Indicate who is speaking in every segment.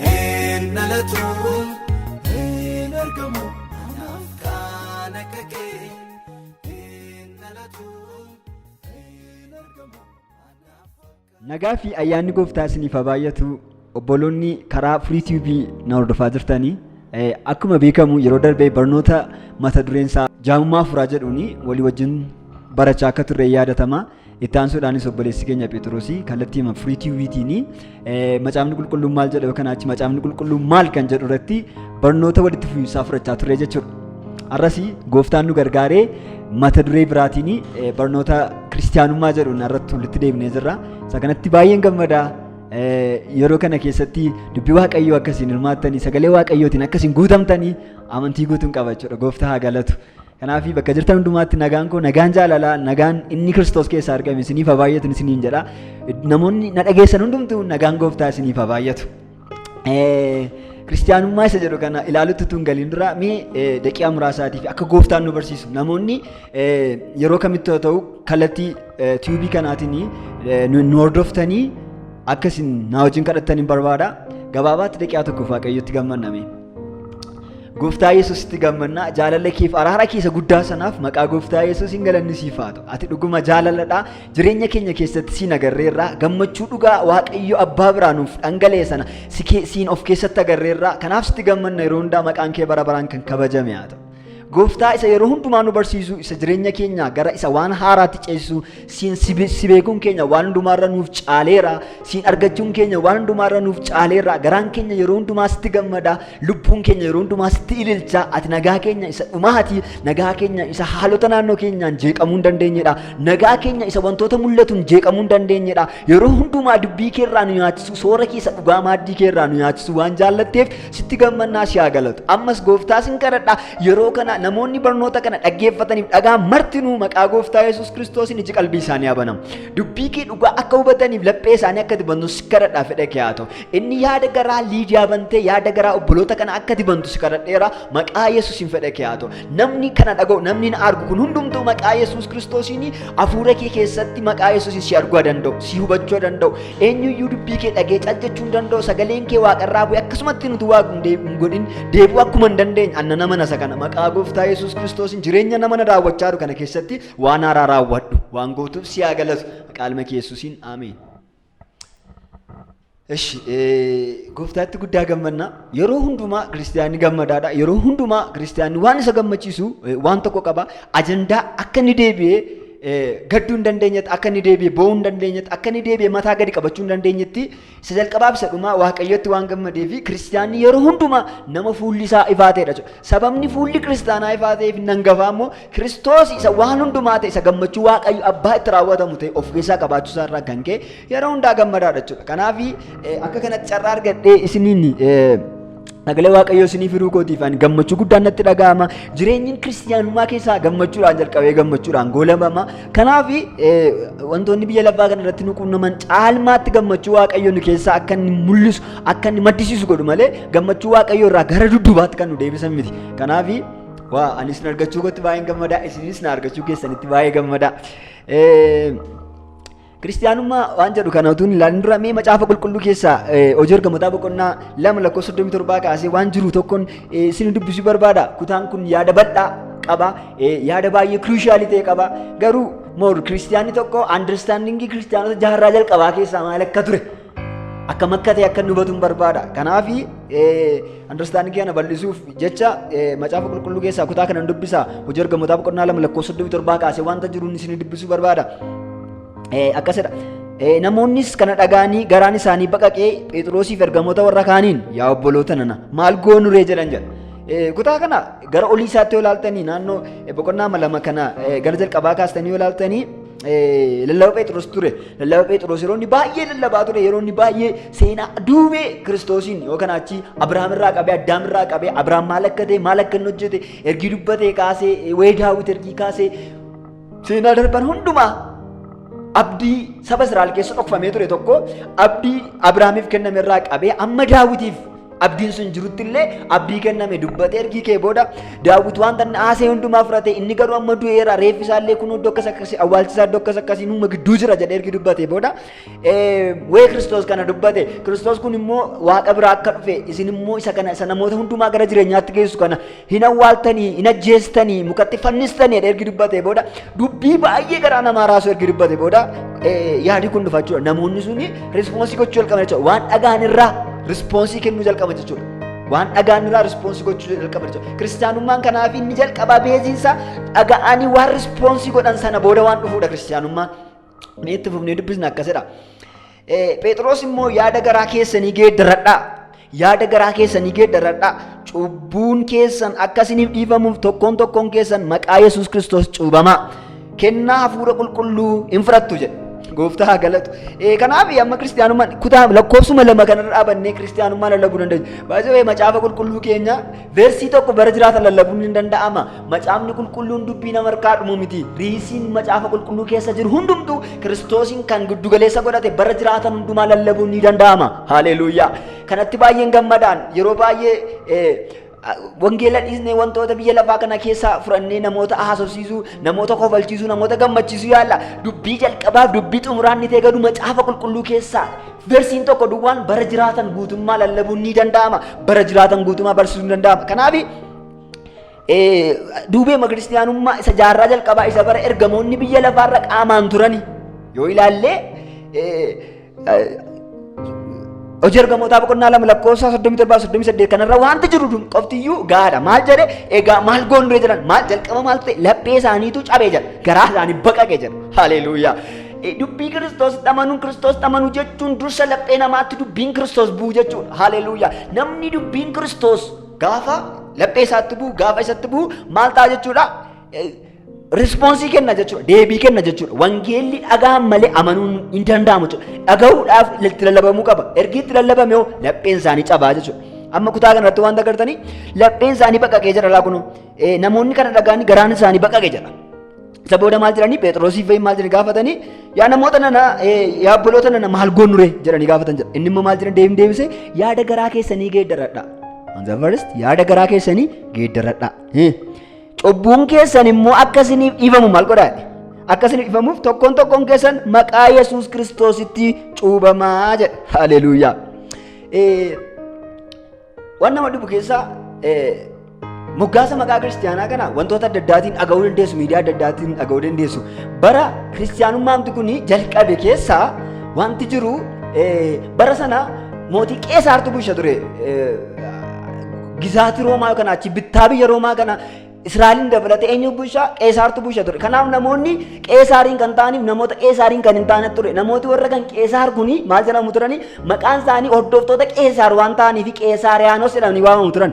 Speaker 1: Hin dhalatu hin argamu anaaf kaan akka kee hin dhalatu hin argamu anaaf akka.
Speaker 2: Nagaa fi ayyaanni gooftaa isiniif haa baay'atu obboloonni karaa Free TV na hordofaa jirtanii eh, akkuma beekamu yeroo darbee barnoota mata dureen isaa jaamummaa afuuraa jedhuun walii wajjin barachaa akka turre yaadatama. Itti aansuudhaanis obboleessi keenya Phexrosi kallattii hima free tiwiitiin macaafni qulqulluun maal jedha yookaan achi macaafni qulqulluun maal kan jedhu irratti barnoota walitti fufiinsaa fudhachaa turre jechuudha. Har'as gooftaan nu gargaaree mata duree biraatiin barnoota kiristaanummaa jedhuun irratti walitti deebinee jirra. Isa kanatti baay'een gammada. Yeroo kana keessatti dubbii waaqayyoo akkasiin hirmaattanii sagalee waaqayyootiin akkasiin guutamtanii amantii guutuun qaba jechuudha. Gooftaa haa galatu. Kanaaf bakka jirtan hundumaatti nagaan koo nagaan jaalalaa nagaan inni kiristoos keessaa argame isiniif haa baay'atu isiniin jedha. Namoonni na dhageessan hundumtuu nagaan gooftaa isiniif haa baay'atu. Kiristiyaanummaa isa jedhu kana ilaalutti tun galiin dura mee daqiiqaa muraasaatiif akka gooftaan nu barsiisu namoonni yeroo kamitti yoo ta'u kallattii tiyuubii kanaatiin nu hordoftanii akka isin na wajjin kadhattan hin barbaada. Gabaabaatti daqiiqaa tokkoof waaqayyotti gammanname. Gooftaa Yesuusitti gammannaa jaalala keef araara keessa guddaa sanaaf maqaa Gooftaa Yesuusiin galanni siif haa ta'u. Ati dhuguma jaalaladha. Jireenya keenya keessatti siin agarreerra. Gammachuu dhugaa Waaqayyo abbaa biraa nuuf dhangala'e sana si kee- siin of keessatti agarreerra. Kanaaf sitti gammanna yeroo hundaa maqaan kee bara baraan kan kabajame haa ta'u. Gooftaa isa yeroo hundumaa nu barsiisu isa jireenya keenya gara isa waan haaraatti ceesisu siin si beekuun keenya waan hundumaarra nuuf caaleera siin argachuun keenya waan hundumaarra nuuf caaleera garaan keenya yeroo hundumaa sitti gammada lubbuun keenya yeroo hundumaa sitti ililcha ati nagaa keenya isa dhumaati nagaa keenya isa haalota naannoo keenyaan jeeqamuu hin dandeenyedha nagaa keenya isa wantoota mul'atuun jeeqamuu hin dandeenyedha yeroo hundumaa dubbii keerraa nu nyaachisu soora keessa dhugaa maaddii keerraa nu nyaachisu waan jaallatteef Sitti gammannaa si haa galatu. Ammas gooftaa sin kadhadha yeroo kana namoonni barnoota kana dhaggeeffataniif dhagaa martinuu maqaa gooftaa Yesuus Kiristoosiin iji qalbii isaanii haa banamu. Dubbii kee dhugaa akka hubataniif laphee isaanii akka dibantu si kadhadha fedha kee haa ta'u. Inni yaada garaa Liidiyaa bantee yaada garaa obboloota kana akka dibantu si kadhadheera maqaa Yesuusiin fedha kee haa ta'u. Namni kana dhaga'u, namni na argu kun hundumtuu maqaa Yesuus Kiristoosiin hafuura kee keessatti maqaa Yesuusiin si arguu danda'u, si hubachuu danda'u, eenyuyyuu dubbii kee dhagee cal jechuu hin danda'u, sagaleen kee waaqarraa bu'e akkasumatti nuti waaqu hin deebi'u hin godhin deebi'u akkuma hin dandeenye anna nama nasa kana maqaa gooftaa Yesuus Kiristoosiin jireenya nama na daawwachaa jiru kana keessatti waan haaraa raawwadhu waan gootuuf si haa galatu maqaa ilma kee Yesuusiin ameen. Eshi gooftaatti guddaa gammanna. Yeroo hundumaa kiristiyaanni gammadaadha. Yeroo hundumaa kiristiyaanni waan isa gammachiisu eh, waan tokko qaba. Ajandaa akka inni deebi'ee eh, gadduu hin dandeenyetti, akka inni deebi'ee boo'uu hin dandeenyetti, akka inni deebi'ee mataa gadi qabachuu hin dandeenyetti isa jalqabaa fi isa dhumaa waaqayyotti waan gammadee fi kiristiyaanni yeroo hundumaa nama fuulli isaa ifaa ta'edha jechuudha. Sababni fuulli kiristaanaa ifaa ta'eef hin hangafaa immoo Kiristoos isa waan hundumaa ta'e isa gammachuu waaqayyo abbaa itti raawwatamu ta'e of keessaa qabaachuu isaa irraa kan ka'e yeroo hundaa gammadaadha jechuudha. Kanaaf akka kanatti carraa argadhee isiniin sagalee waaqayyoo isinii firuu kootiif ani gammachuu guddaan natti dhaga'ama. Jireenyi kiristiyaanummaa keessaa gammachuudhaan jalqabee gammachuudhaan goolabama. Kanaaf wantoonni biyya lafaa kana irratti nu quunnaman caalmaatti gammachuu waaqayyoo nu keessaa akka inni mul'isu akka inni maddisiisu godhu malee gammachuu waaqayyoo irraa gara duddubaatti kan nu deebisan miti. Kanaaf Waa ani isin argachuu kootti baay'een gammadaa isinis na argachuu keessanitti baay'ee gammadaa. Kiristiyaanummaa waan jedhu kana utuu hin ilaalin dura mee macaafa qulqulluu keessaa hojii ergamootaa boqonnaa lama lakkoofsa soddomii torbaa kaasee waan jiru tokkoon isin dubbisuu barbaada. Kutaan kun yaada bal'aa qaba. Yaada baay'ee kiriishaalii ta'e qaba. Garuu moor kiristiyaanni tokko andarstaandingii kiristiyaanota jaarraa jalqabaa keessaa maal akka ture akka makkate akka inni hubatu hin barbaada. Kanaaf understanding kana bal'isuuf jecha eh, macaafa qulqulluu keessaa kutaa kana hin dubbisa. Hojii ergamootaa boqonnaa lama lakkoofsa 37 kaasee wanta jiruun isin dubbisuu barbaada. Eh, Akkasidha. Eh, Namoonnis kana dhagaanii garaan isaanii baqaqee Phexroosiif ergamoota warra kaaniin yaa obboloota nana maal goonuree jedhan jedha. Eh, Kutaa kana gara olii isaatti yoo ilaaltanii naannoo eh, boqonnaa lama kana eh, gara jalqabaa kaastanii yoo ilaaltanii eh, lallaba Phexros ture. Lallaba Phexros yeroo inni baay'ee lallabaa ture, yeroo inni baay'ee seenaa duubee Kiristoosiin yookaan achi Abrahaam irraa qabee, Addaam irraa qabee, Abrahaam maal akka ta'e, maal akka inni hojjete, ergii dubbatee kaasee, eh, wayii daawwit ergii kaasee, seenaa darban hundumaa abdii saba Israa'el keessa dhokfamee ture tokko abdii Abrahaamiif kenname irraa qabee amma daawwitiif Abdiin sun jirutti illee abdii kenname dubbate ergii kee booda daawwit wanta inni haasee hundumaa fudhate inni garuu amma du'eera reeffi isaa illee kun iddoo akkas akkasii awwaalchi isaa iddoo akkas akkasii nuuma gidduu jira jedhee ergii dubbate booda wee kiristoos kana dubbate kiristoos kun immoo waaqa biraa akka dhufe isin immoo isa kana isa namoota hundumaa gara jireenyaatti geessu kana hin awwaaltanii, hin ajjeestanii, mukatti fannistanii jedhee ergi dubbatee booda dubbii baay'ee garaa namaa raasuu ergi dubbatee booda eh, yaadi kun dhufa jechuudha. Namoonni suni rispoonsii gochuu jalqaban jechuudha. Waan dhagaan irraa rispoonsii kennuu jalqaban jechuudha. Waan dhagaan irraa rispoonsii gochuu jalqaban jechuudha. Kiristaanummaan kanaaf inni jalqabaa beeziinsa dhaga'anii waan rispoonsii godhan sana booda waan dhufuudha kiristaanummaan. Mee itti fufnee dubbisna akkas jedha. Phexros immoo yaada garaa keessanii geeddaradhaa. Yaada garaa keessanii geeddaradhaa. Cubbuun keessan akka isiniif dhiifamuuf tokkoon tokkoon keessan maqaa Yesuus Kiristoos cuubamaa. Kennaa hafuura qulqulluu hin fudhattu jedha. Gooftaa haa galatu. Kanaaf amma kiristaanummaan kutaa lakkoofsuma lama kanarra dhaabannee kiristaanummaa lallabuu dandeenya. Baay'ee macaafa qulqulluu keenya Versii tokko bara jiraata lallabuun ni danda'ama. Macaafni qulqulluun dubbii nama harkaa dhumu miti. Riisiin macaafa qulqulluu keessa jiru hundumtu Kiristoosiin kan giddugaleessa godhate bara jiraatan hundumaa lallabuun ni danda'ama. Haaleluuyaa! Kanatti baay'een gammadaan yeroo baay'ee wangeela dhiisnee wantoota biyya lafaa kana keessaa fudhannee namoota haasofsiisuu, namoota kofalchiisuu, namoota gammachiisuu yaalla. Dubbii jalqabaaf dubbii xumuraan ni ta'e garuu macaafa qulqulluu keessaa Garsiin tokko duwwaan bara jiraatan guutummaa lallabuun ni danda'ama. Bara jiraatan guutummaa barsiisuun ni danda'ama. Kanaaf duubeema kiristiyaanummaa isa jaarraa jalqabaa isa bara ergamoonni biyya lafaarra qaamaan turani yoo ilaallee hojii ergamootaa boqonnaa lama lakkoofsa soddomii torbaa soddomii saddeet kanarra wanti jiru qoftiyyuu gaadha maal jedhe egaa maal goonree jedhan maal jalqaba maal ta'e laphee isaaniitu cabee jedha garaa isaanii baqaqee jedha haleeluuyaa. Dubbii Kiristoositti amanuu, Kiristoositti amanuu jechuun dursa laphee namaatti dubbiin Kiristoos bu'u jechuudha. Haleluuyaa. Namni dubbiin Kiristoos gaafa laphee isaatti bu'u, gaafa isatti bu'u maal ta'a jechuudha? Rispoonsii kenna jechuudha. Deebii kenna jechuudha. Wangeelli dhagaan malee amanuun hin danda'amu jechuudha. Dhagahuudhaaf itti lallabamuu qaba. Ergi itti lallabame hoo lapheen isaanii cabaa jechuudha. Amma kutaa kanarratti waan agartanii lapheen isaanii baqaqee jira laa kunoo. Namoonni kana dhagaanii garaan isaanii baqaqee jira. Isa booda maal jedhanii Pheexroosii fa'iin maal jedhanii gaafatanii yaa namoota nana yaa obboloota nana maal goonure jedhanii gaafatan jedha. Inni immoo maal jedhan deebiin deebisee yaada garaa keessanii geeddaradha. Hanza first yaada garaa keessanii geeddaradha. Cubbuun keessan immoo akka isiniif dhiifamu maal godhaa? Akka isiniif dhiifamuuf tokkoon tokkoon keessan maqaa Yesuus Kiristoositti cuubamaa jedha. Haleluuyaa. Waan nama dhibu keessaa moggaasa maqaa kiristiyaanaa kana wantoota adda addaatiin dhaga'uu dandeessu, miidiyaa adda addaatiin dhaga'uu dandeessu. Bara kiristiyaanummaamti kun jalqabe keessaa wanti jiru bara sana mootii qeesaartu bulcha ture. Gizaatii Roomaa kana achi bittaa biyya Roomaa kana Israa'eliin dabalatee eenyu bulchaa qeesaartu bulcha ture. Kanaaf namoonni qeesaariin kan ta'aniif namoota qeesaariin kan hin taane ture. Namooti warra kan qeesaar kuni maal jedhamu turani? Maqaan isaanii hordoftoota qeesaar waan ta'aniif qeesaariyaanos jedhamanii waamamu turan.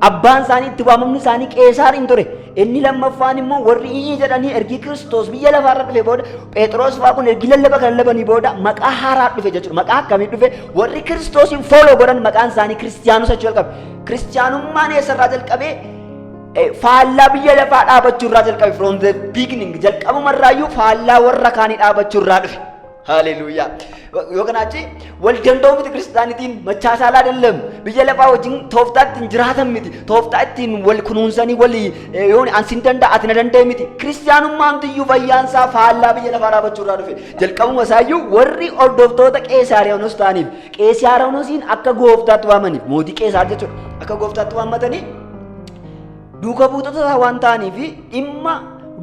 Speaker 2: Abbaan isaanii itti waamamni isaanii qeesaariin ture. Inni lammaffaan immoo warri iyyii jedhanii ergi Kiristoos biyya lafaarra dhufe booda Phexros fa'aa kun ergi lallaba kan lallabanii booda maqaa haaraa dhufe jechuudha. Maqaa akkamii dhufe? Warri Kiristoosiin fooloo godhan maqaan isaanii Kiristiyaanota jechuu jalqabe. Kiristiyaanummaan eessarraa jalqabee Eh, faallaa biyya lafaa dhaabachuu irraa jalqabe from the beginning jalqabuma irraayyuu faallaa warra kaanii dhaabachuu irraa dhufe haleluuyaa yoo kanaa achi wal danda'uu miti kiristaanitiin machaa saalaa dallam biyya lafaa wajjin tooftaa ittiin jiraatan miti tooftaa ittiin wal kunuunsanii walii eh, yoo an sin danda'a ati na danda'e miti kiristaanummaan tiyyuu fayyaan isaa faallaa biyya lafaa dhaabachuu irraa dhufe jalqabuma isaayyuu warri hordoftoota qeesaariyaanus ta'aniif Qeesiyaaroonoosiin akka gooftaatti waamaniif mootii Qeesaar jechuudha. Akka gooftaatti waammatanii duuka buutota isaa waan ta'aniif dhimma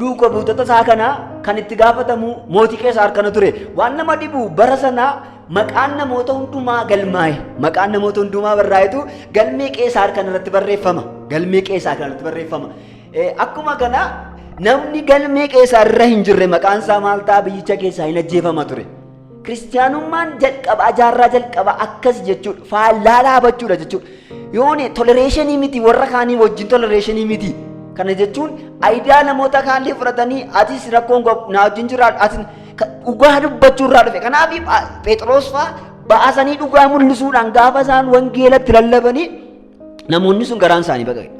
Speaker 2: duuka buutota isaa kana kan itti gaafatamu mootii Qeesaar kana ture. Waan nama dhibu bara sanaa maqaan namoota hundumaa galmaa'e. Maqaan namoota hundumaa barraa'etu galmee Qeesaar kana irratti barreeffama. Galmee Qeesaar kana irratti barreeffama. Akkuma kana namni galmee Qeesaar irra hin jirre maqaan isaa maal ta'a biyyicha keessaa hin ajjeefama ture. Kiristiyaanummaan jalqabaa jaarraa jalqabaa akkas jechuudha. Faallaa dhaabachuudha jechuudha. Yoone tolereeshinii miti warra kaanii wajjin tolereeshinii miti. Kana jechuun ayidaa namoota kaanii fudhatanii atis rakkoon naa wajjin jiraadhu atis dhugaa dubbachuu irraa dhufe. Kanaaf Phexros fa'aa baasanii dhugaa mul'isuudhaan gaafa isaan wangeelatti lallabanii Namoonni sun garaan isaanii baqaqe.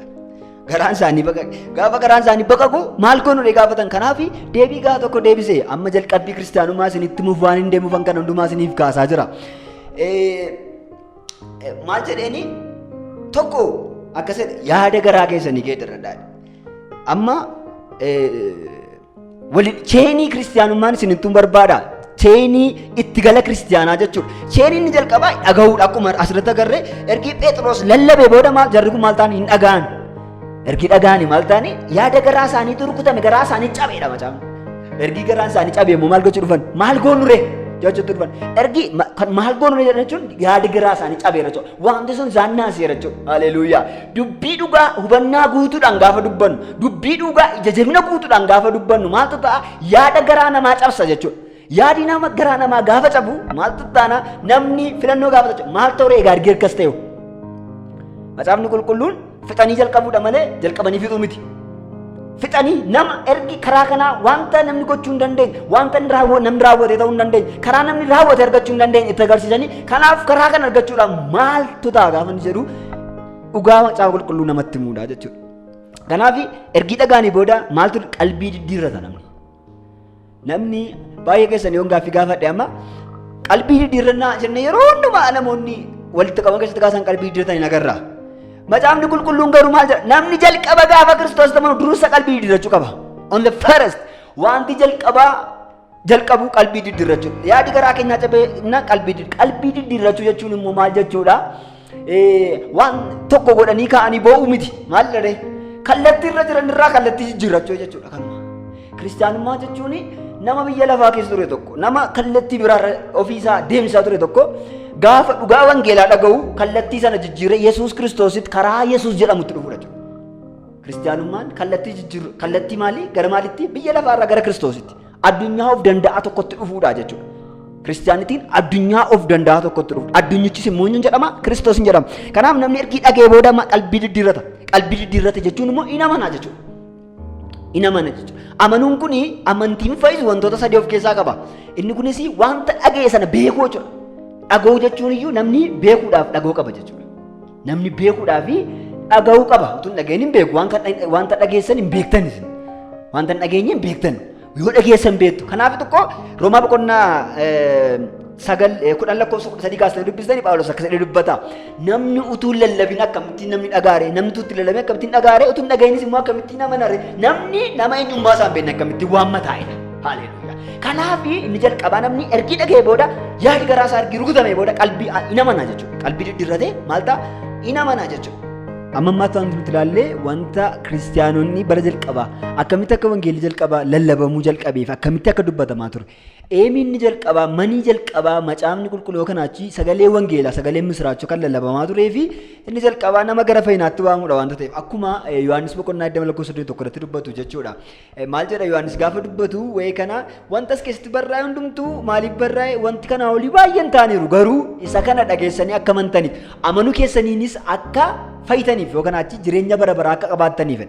Speaker 2: Garaan isaanii baqaqe. Gaafa garaan isaanii baqaqu maal goonu dhee gaafatan kanaaf deebii gahaa tokko deebise amma jalqabbii kiristaanummaa isinitti muuf waan hin deemuufan kan hundumaa isiniif kaasaa jira. Maal jedheeni tokko akkas yaada garaa keessanii geeddarradhaa. Amma Wali cheenii kiristiyaanummaan isin ittiin barbaada. Cheenii itti gala kiristiyaanaa jechuudha. Cheenii inni jalqabaa dhagahuudha akkuma asirratti agarree ergi Pheexiroos lallabee booda maal jarri kun maal ta'an hin dhagahan. Ergi dhagahani maal ta'ani yaada garaa isaanii turkutame garaa isaanii cabeedha macaan. Ergi garaa isaanii cabee immoo maal gochuu dhufan maal goonuree jechuutti dhufan. Ergi ma- kan maal goonuree jechuun yaada garaa isaanii cabeera jechuudha. Wanti sun isaan naaseera jechuudha. Haleluuyaa. Dubbii dhugaa hubannaa guutuudhaan gaafa dubbannu, dubbii dhugaa ija jabina guutuudhaan gaafa dubbannu maaltu ta'a? Yaada garaa namaa cabsa jechuudha. Yaadi nama garaa namaa gaafa cabu maaltu taana? Namni filannoo gaafa ta'a. Maal ta'u egaa argee akkas ta'e? Macaafni qulqulluun Fixanii jalqabuudha malee jalqabanii fixuu miti. Fixanii nama ergi karaa kanaa wanta namni gochuu hin dandeenye, wanta inni raawwa- namni raawwate ta'uu hin dandeenye, karaa namni raawwate argachuu hin dandeenye itti agarsiisanii kanaaf karaa kana argachuudhaaf maaltu ta'a gaafa inni jedhu dhugaa macaafa qulqulluu namatti himuudha jechuudha. Kanaaf ergi dhagaanii booda maaltu qalbii diddiirrata namni. Namni baay'ee keessan yoon gaaffii gaafadhe amma qalbii diddiirrannaa jenne yeroo hundumaa namoonni walitti qaban keessatti kaasan qalbii diddiirratan hin agarra. Macaafni qulqulluun garuu maal jedha? Namni jalqaba gaafa Kiristoos ta'u dursa qalbii diddiirrachuu qaba. On the first wanti jalqabaa jalqabuu qalbii diddiirrachuu. Yaadi garaa keenyaa cabee qalbii diddiirrachuu jechuun immoo maal jechuudha? Waan tokko godhanii kaa'anii boo'uu miti. Maal dharee? Kallattii irra jiran irraa kallattii jijjiirrachuu jechuudha kanuma. Kiristaanummaa jechuun nama biyya lafaa keessa ture tokko, nama kallattii biraa ofiisaa deemsaa ture tokko gaafa dhugaa wangeelaa dhaga'u kallattii sana jijjiiree Yesuus Kiristoositti karaa Yesuus jedhamutti dhufudha jechuudha. Kiristaanummaan kallattii jijjiirru kallattii maalii gara maalitti biyya lafaarraa gara Kiristoositti Addunyaa of danda'aa tokkotti dhufuudha jechuudha. Kiristiyaanitiin addunyaa of danda'aa tokkotti dhufuudha. Addunyichis immoo eenyuun jedhama? Kiristoos hin jedhama. Kanaaf namni ergii dhagee booda ma- qalbii diddiirrata. Qalbii diddiirrata jechuun immoo hin amana jechuudha. Hin amana jechuudha. Amanuun kun amantiin fayyisu wantoota sadii of keessaa qaba. Inni kunis wanta dhaga'e sana beekuu jechuudha. Dhaga'uu jechuun iyyuu namni beekuudhaaf dhaga'uu qaba jechuudha. Namni beekuudhaa fi dhaga'uu qaba. Utuu hin dhaga'in hin beeku. Waan kan dhag- Wanta dhageessan hin beektan isin. Wanta hin dhageenye hin beektan. Yoo dhageessan beektu. Kanaaf tokko Roomaa boqonnaa eh, sagal eh, kudhan lakkoofsa kudha sadii kaasanii dubbistanii Phaawulos akkas jedhee dubbata. Namni utuu hin lallabin akkamittiin namni dhagaare, namni utuu hin lallabin akkamittiin dhagaare, utuu hin dhaga'inis immoo akkamittiin amanare. Namni nama eenyummaa isaa hin beekne akkamittiin waamma taa'edha. Haleluuyaa. Kanaaf inni jalqabaa namni ergi dhaga'ee booda yaadi garaa isaa ergi rukutamee booda qalbii in amana jechuudha. Qalbii diddirratee maal ta'a? In amana jechuudha. Amma ammaatti wanti nuti ilaallee wanta kiristiyaanonni bara jalqabaa akkamitti akka wangeelli jalqabaa lallabamuu jalqabeef akkamitti akka dubbatamaa ture. Eemiinni jalqabaa manii jalqabaa macaafni qulqulluu yookaan achi sagalee wangeelaa sagalee misiraachoo kan lallabamaa turee fi inni jalqabaa nama gara fayyinaatti waamudha wanta ta'eef akkuma Yohaannis boqonnaa 20 lakkoofsa 21 irratti dubbatu jechuudha. Maal jedha Yohaannis gaafa dubbatu wa'ee kana wanta as keessatti barraa'e hundumtuu maaliif barraa'e wanti kanaa olii baay'een ta'aniiru garuu isa kana dhageessanii akka amantaniif amanuu keessaniinis akka fayyitaniif yookaan achi jireenya bara baraa akka qabaattaniif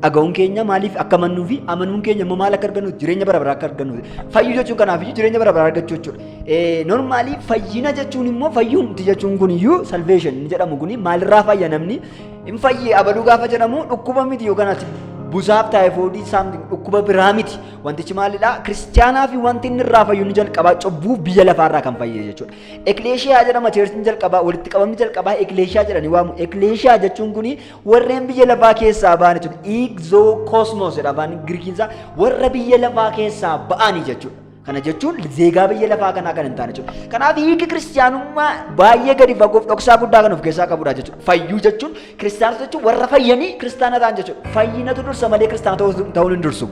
Speaker 2: dhaga'uun keenya maaliif akka amannuu fi amanuun keenya immoo maal akka argannuuf jireenya bara baraa akka argannuuf fayyuu jechuun kanaaf iyyuu jireenya bara baraa argachuu jechuudha. Normaalii fayyina jechuun immoo fayyuumti jechuun kun iyyuu salveeshin jedhamu kun maalirraa fayya namni Hin fayye abaluu gaafa jedhamu dhukkuba miti yookaan ati busaaf taayifoodii saamti dhukkuba biraa miti. Wantichi maalidha? Kiristiyaanaa fi wanti inni irraa fayyu inni jalqabaa cubbuu biyya lafaa irraa kan fayye jechuudha. Ekleeshiyaa jedhama cheersiin jalqabaa walitti qabamni jalqabaa ekleeshiyaa jedhanii waamu. Ekleeshiyaa jechuun kuni warreen biyya lafaa keessaa ba'an jechuudha. Iigzoo koosmoos jedha afaan Girikiinsaa warra biyya lafaa keessaa ba'anii jechuudha. Kana jechuun zeegaa biyya lafaa kanaa kan hin taane jechuudha. Kanaaf hiiki kiristiyaanummaa baay'ee gadi fagoof dhoksaa guddaa kan of keessaa qabudha jechuudha. Fayyuu jechuun kiristiyaanota jechuun warra fayyanii kiristaana ta'an jechuudha. Fayyinatu dursa malee kiristaana ta'uun hin dursu.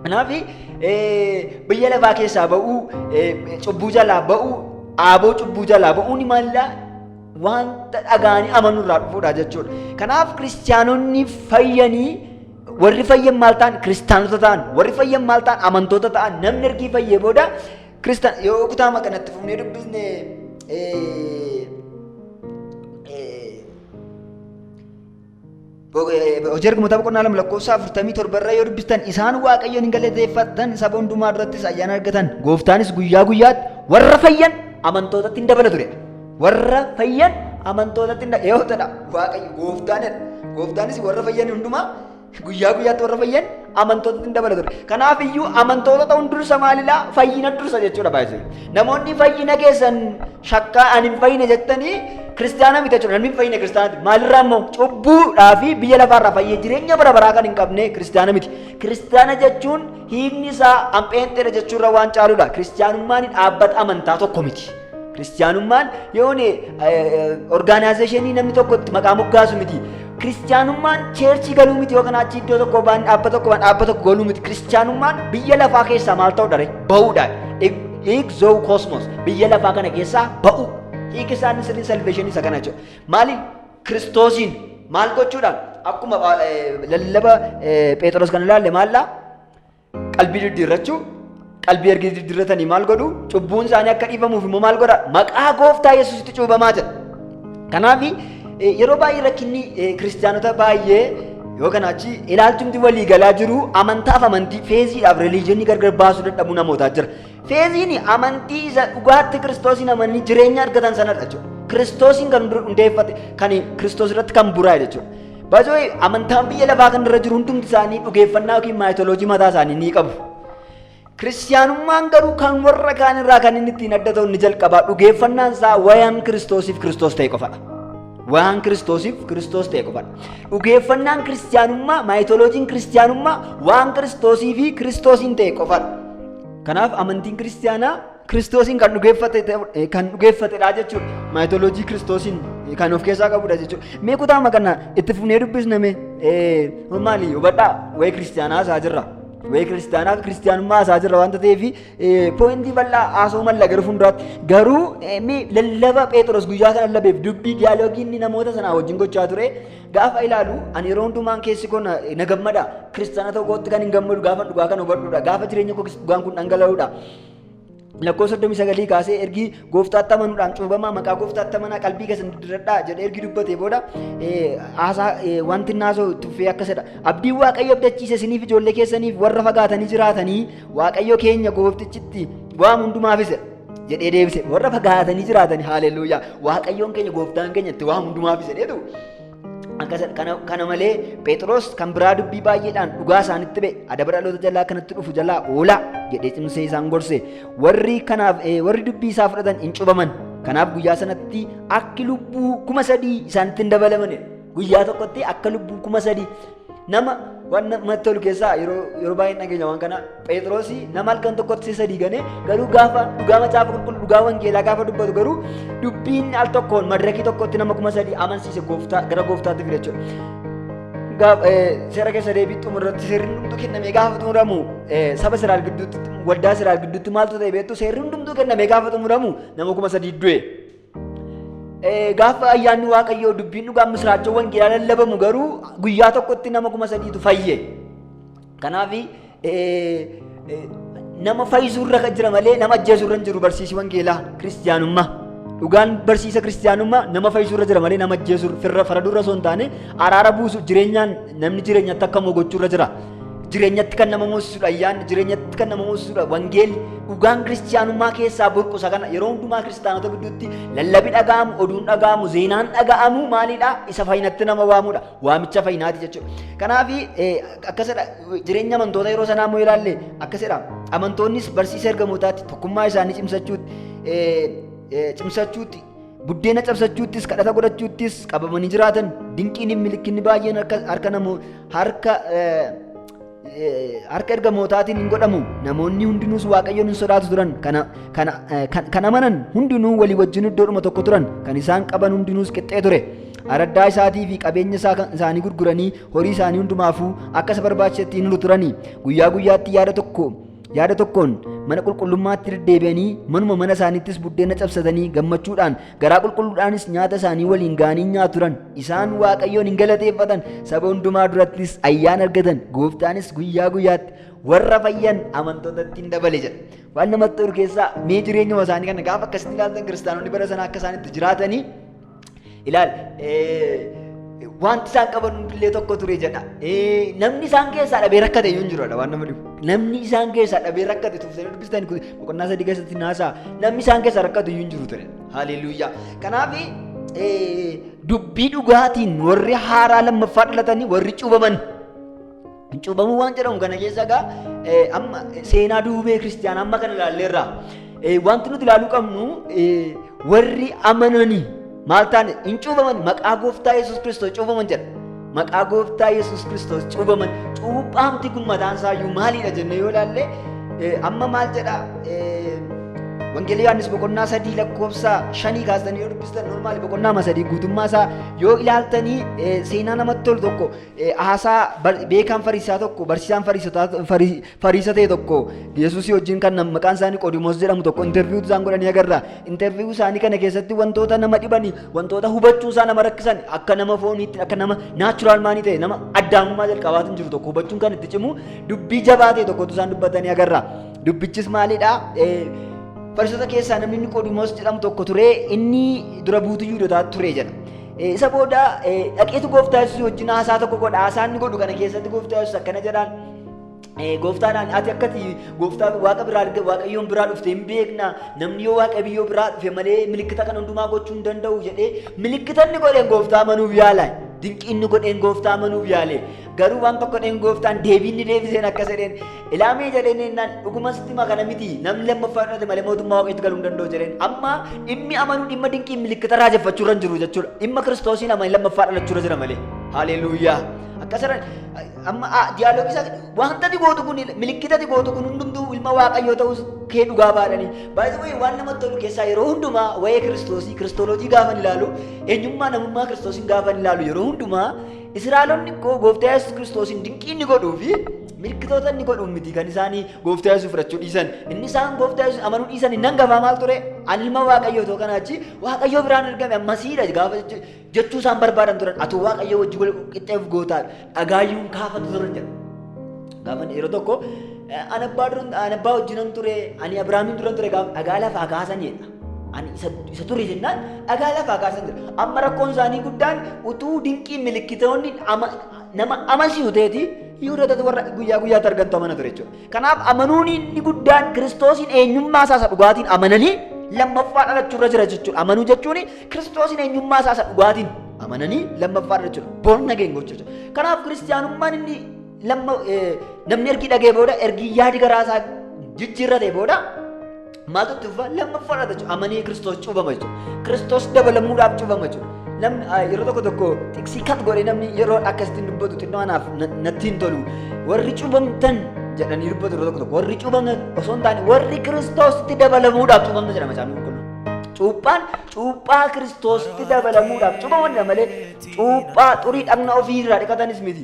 Speaker 2: Kanaaf biyya lafaa keessaa ba'uu, cubbuu jalaa ba'uu, aaboo cubbuu jalaa ba'uun maallaa wanta dhagaanii amanuu irraa dhufudha jechuudha. Kanaaf kiristiyaanonni fayyanii Warri fayyan maal ta'an kiristaanota ta'an warri fayyan maal ta'an amantoota ta'an namni ergii fayyee booda kiristaan yoo kutaa makanatti fufnee dubbisne hojii ergamoota boqonnaa lama lakkoofsa afurtamii torba irra yoo dubbistan isaan waaqayyoon hin galateeffatan saba hundumaa durattis ayyaana argatan gooftaanis guyyaa guyyaatti warra fayyan amantootatti hin dabala turedha. Warra fayyan amantootatti hin dhaga'ootadha. Waaqayyo gooftaanidha. Gooftaanis warra fayyan hundumaa guyyaa guyyaatti warra fayyan amantootatti hin dabala ture. Kanaaf iyyuu amantoota ta'uun dursa maalidha? Fayyina dursa jechuudha baay'ee. Namoonni fayyina keessan shakkaa ani hin fayyine jettanii kiristaana miti jechuudha. Namni hin fayyine kiristaanati. Maalirraa immoo cubbuudhaa fi biyya lafaarraa fayyee jireenya bara baraa kan hin qabne kiristaana miti. Kiristaana jechuun hiikni isaa ampheenxeedha jechuurra waan caaludha. Kiristaanummaan dhaabbata amantaa tokko miti. Kiristiyaanummaan yoon orgaanaayizeeshinii namni tokko itti maqaa moggaasu miti. Kiristiyaanummaan cheerchii galuu miti yookaan achi iddoo tokko baan dhaabba tokko baan dhaabba tokko galuu miti. Kiristiyaanummaan biyya lafaa keessaa maal ta'uu dha? Ba'uudha. Hiik zoo koosmos biyya lafaa kana keessaa ba'u. Hiik isaan sirrii salveeshinii isa kana jechuudha. Maaliin kiristoosiin maal gochuudhaan akkuma lallaba Pheexroos kan ilaalle maallaa Qalbii diddiirrachuu qalbii erga diddiirratanii maal godhu cubbuun isaanii akka dhiifamuuf immoo maal godha maqaa gooftaa yesuusitti cuubamaa jedha. Kanaaf yeroo baay'ee rakkinni kiristaanota baay'ee yoo kana achi ilaalchumti walii galaa jiru amantaaf amantii feeziidhaaf reliijinii gargar baasuu dadhabuu namootaa jira. Feeziin amantii isa dhugaatti kiristoosiin amananii jireenya argatan sanadha jechuudha. Kiristoosiin kan hundeeffate kan kiristoos irratti kan buraa'e jechuudha. Baay'ee amantaan biyya lafaa kanarra jiru hundumti isaanii dhugeeffannaa yookiin maayitoloojii mataa isaanii ni qabu. Kiristiyaanummaan garuu kan warra kaan irraa kan inni ittiin adda ta'u inni jalqabaa dhugeeffannaan isaa wayaan kiristoosiif kiristoos ta'e qofadha. Wayaan kiristoosiif kiristoos ta'e qofadha. Dhugeeffannaan kiristiyaanummaa maayitoloojiin kiristiyaanummaa waan kiristoosii fi kiristoosiin ta'e qofadha. Kanaaf amantiin kiristiyaanaa Kiristoosiin kan dhugeeffate kan dhugeeffatedha jechuudha. Maayitooloojii Kiristoosiin kan of keessaa qabudha jechuudha. Mee kutaama kana itti fufnee dubbisna mee maali hubadhaa wayii kiristaanaa isaa jirra. Wayii kiristaanaa kiristaanummaa isaa jirra waanta ta'eef poointii bal'aa haasoo malla garuu fuulduraatti garuu mee lallaba Pheexroos guyyaa sana lallabeef dubbii diyaaloogii inni namoota sanaa wajjin gochaa ture gaafa ilaalu ani yeroo hundumaan keessi koo na gammada kiristaana tokkootti kan hin gammadu gaafa dhugaa kan hubadhudha gaafa jireenya koo dhugaan kun dhangala'udha. Lakkoofsa 39 kaasee ergi gooftaatti amanuudhaan cuubamaa maqaa gooftaatti amanaa qalbii keessan diddiradhaa jedhee ergi dubbatee booda haasaa wanti naasoo tuffee akkasidha. Abdiin Waaqayyo abdachiise isiniif ijoollee keessaniif warra fagaatanii jiraatanii Waaqayyo keenya gooftichitti waan hundumaafis jedhee deebise warra fagaatanii jiraatanii haaleluyyaa Waaqayyoon keenya gooftaan keenya itti waan hundumaafis jedheetu Kana malee Phexros kan biraa dubbii baay'eedhaan dhugaa isaanitti ba'e adaba dhaloota jalaa kanatti dhufu jalaa oolaa jedhee cimsee isaan gorse warri kanaaf warri dubbii isaa fudhatan hin cubaman kanaaf guyyaa sanatti akki lubbuu kuma sadii isaanitti hin dabalamane guyyaa tokkotti akka lubbuu kuma sadii Nama waan namatti tolu keessaa yeroo yeroo baay'ee hin dhageenya waan kana Phexrosi nama halkan tokkotti si sadii ganee garuu gaafa dhugaa macaafa qulqulluu dhugaa wangeelaa gaafa dubbatu garuu dubbiin al tokkoon madirakii tokkotti nama kuma sadii amansiise gooftaa gara gooftaatti fide jechuudha. Gaaf- eh, Seera keessa deebii xumurratti seerri hundumtuu kennamee gaafa xumuramu eh, saba Israa'el gidduutti waldaa Israa'el gidduutti maaltu ta'e beektu seerri hundumtuu kennamee gaafa xumuramu nama kuma sadii du'e. Gaafa ayyaanni Waaqayyoo dubbiin dhugaan misiraachoo wangeelaa lallabamu garuu guyyaa tokkotti nama kuma sadiitu fayye. Kanaaf nama fayyisuurra kan jira malee nama ajjeesuurra hin jiru barsiisi wangeelaa kiristiyaanummaa. Dhugaan barsiisa kiristiyaanummaa nama fayyisuurra jira malee nama ajjeesuurra firra faradurra osoo hin taane araara buusu jireenyaan namni jireenyatti akka moo gochuurra jira. Jireenyatti kan nama moosisudha ayyaanni, jireenyatti kan nama moosisudha wangeelli. Dhugaan kiristiyaanummaa keessaa burqusa kana yeroo hundumaa kiristaanota gidduutti lallabi dhaga'amu, oduun dhaga'amu, zeenaan dhaga'amu maalidha? Isa fayyinatti nama waamudha. Waamicha fayyinaati jechuudha. Kanaaf akkasidha jireenya amantoota yeroo sanaa immoo ilaalle akkasidha. Amantoonnis barsiisa ergamootaatti tokkummaa isaanii cimsachuutti cimsachuutti Buddeena cabsachuuttis kadhata godhachuuttis qabamanii jiraatan dinqiin milikkinni baay'een harka harka namoo harka eh, eh, harka ergamootaatiin hin godhamu namoonni hundinuus waaqayyoon hin sodaatu turan kana kana eh, kan- kan amanan hundinuu walii wajjin iddoodhuma tokko turan kan isaan qaban hundinuus qixxee ture araddaa isaatii fi qabeenya isaa kan isaanii gurguranii horii isaanii hundumaafuu akka isa barbaachisetti hin lulu turanii guyyaa guyyaatti yaada tokko Yaada tokkoon mana qulqullummaatti deddeebi'anii manuma mana isaaniittis buddeena cabsatanii gammachuudhaan garaa qulqulluudhaanis nyaata isaanii waliin ga'anii nyaatu turan. Isaan Waaqayyoon hin galateeffatan saba hundumaa durattis ayyaana argatan gooftaanis guyyaa guyyaatti warra fayyan amantootatti hin dabale jedha. Waan namatti tolu keessaa mee jireenyuma isaanii kana gaafa akkasitti ilaaltan kiristaanonni bara sana akka isaan itti jiraatanii Ilaal, wanti isaan qaban hundillee tokko ture jedha. Namni isaan keessaa dhabee rakkate iyyuu hin jiru waan nama dhibu. Namni isaan keessaa dhabee rakkate tuftanii dubbistan kun boqonnaa sadii keessatti naasaa namni isaan keessaa rakkatu iyyuu hin jiru ture. Haleeluyyaa. Kanaaf dubbii dhugaatiin warri haaraa lammaffaa dhalatanii warri cuubaman Cuubamuu waan jedhamu kana keessa egaa amma seenaa duubee kiristiyaanaa amma kana ilaalleerra. Wanti nuti ilaaluu qabnu warri amananii maal taane hin cuubaman maqaa gooftaa Yesuus Kiristoos cuubaman jedha. Maqaa gooftaa Yesuus Kiristoos cuubaman cuuphaamti kun mataan isaayyuu maalidha jennee yoo ilaalle amma maal jedha Wangeelii Yohaannis boqonnaa sadii lakkoofsa shanii kaasanii yoo dubbistan normaali boqonnaa sadii guutummaa isaa yoo ilaaltanii seenaa namatti tolu tokko Eh, Haasaa bar- beekaan fariisaa tokko barsiisaan fariisotaa- farii- fariisa ta'e tokko yesuusii wajjin kan nam- maqaan isaanii qoodimoos jedhamu tokko interviiyuu isaan godhanii agarra interviiyuu isaanii kana keessatti wantoota nama dhibanii wantoota hubachuu isaa nama rakkisan akka nama fooniitti akka nama naachuraal maanii ta'e nama addaamummaa jalqabaatiin jiru tokko hubachuun kan itti cimu dubbii jabaa ta'e tokkotu isaan dubbatanii agarra dubbichis maalidha Eh, fariisota keessaa namni inni qoodimoos jedhamu tokko ture inni dura buutuu yuudotaa ture jedha Eh, Isa booda eh, dhaqeetu gooftaa yesuus wajjin haasaa tokko godha. Haasaa inni godhu kana keessatti gooftaa yesuus akkana jedhaan. Eh, Gooftaadhaan ati akkati gooftaa waaqa biraa arga waaqayyoon biraa dhufte hin beekna namni yoo waaqa biyyoo biraa dhufe malee milikkita kan hundumaa gochuu hin danda'u jedhee milikkita inni godheen gooftaa manuuf yaala dinqii inni godheen gooftaa manuuf yaale Garuu waan tokko dheen gooftaan deebiin ni deebiseen akka jedheen ilaamee jedheen ennaan dhuguma sitti hima kana miti namni lammaffaa fudhate malee mootummaa waaqeetti galuu hin danda'u jedheen amma dhimmi amanuu dhimma dinqii milikkita raajeffachuu irra hin jiru jechuudha dhimma kiristoosiin amanii lammaffaa dhalachuu irra jira malee haleeluuyaa akkas jedhan amma diyaaloogii isaa wantati gootu kun milikkitati gootu kun hundumtuu ilma waaqayyoo ta'us kee dhugaa baadhanii baay'ee waan namatti tolu keessaa yeroo hundumaa waa'ee kiristoosii kiristooloojii gaafan ilaalu eenyummaa namummaa kiristoosiin gaafan ilaalu yeroo hundumaa Israa'elonni koo gooftaa Yesuus Kiristoosiin dinqii inni godhuu fi mirkitoota inni godhuun miti kan isaanii gooftaa Yesuus fudhachuu dhiisan. Inni isaan gooftaa Yesuus amanuu dhiisan hin hangafaa maal ture? Ani ilma Waaqayyoo ta'uu kanaa achi Waaqayyoo biraan ergame ammasiidha gaafa jechu- jechuu isaan barbaadan turan. Atu Waaqayyoo wajjin wal qixxeef gootaa dhagaayyuun kaafatu turan jedha. Gaafa yeroo tokko eh, ani abbaa duran- ani abbaa wajjinan ture ani Abiraamiin duran ture gaafa dhagaa lafaa kaasan jedha. Ani isa, isa ture jennaan dhagaa lafaa kaasan jira. Amma rakkoon isaanii guddaan utuu dinqii milikkitoonni ama, nama amansiisu ta'eeti Yihudootatu warra guyyaa guyyaatti argantu amana ture jechuudha. Kanaaf amanuun inni guddaan Kiristoosiin eenyummaa isaa isa dhugaatiin amananii lammaffaa dhalachuu irra jira jechuudha. Amanuu jechuun Kiristoosiin eenyummaa isaa isa dhugaatiin amananii lammaffaa dhalachuu born again gochuu jechuudha. Kanaaf kiristiyaanummaan inni lamma, eh, namni ergi dhagee booda ergi yaadi garaa isaa jijjiirratee booda Maaltu itti fufa? Lammaffaadha jechuudha. Amanee Kiristoos cuubama jechuudha. Kiristoos dabalamuudhaaf cuubama jechuudha. Namni ah, yeroo tokko tokko xiqsii kat godhee namni yeroo akkasitti dubbatu xinnoo anaaf na- natti hin tolu. Warri cuubamtan jedhanii dubbatu yeroo tokko tokko warri cuubamtan osoo hin taane warri Kiristoositti dabalamuudhaaf cuubamtan jedhama isaanii qulqulluu. Cuuphaan cuuphaa Kiristoositti dabalamuudhaaf cuubamanidha malee cuuphaa xurii dhagna ofii irraa dhiqatanis miti.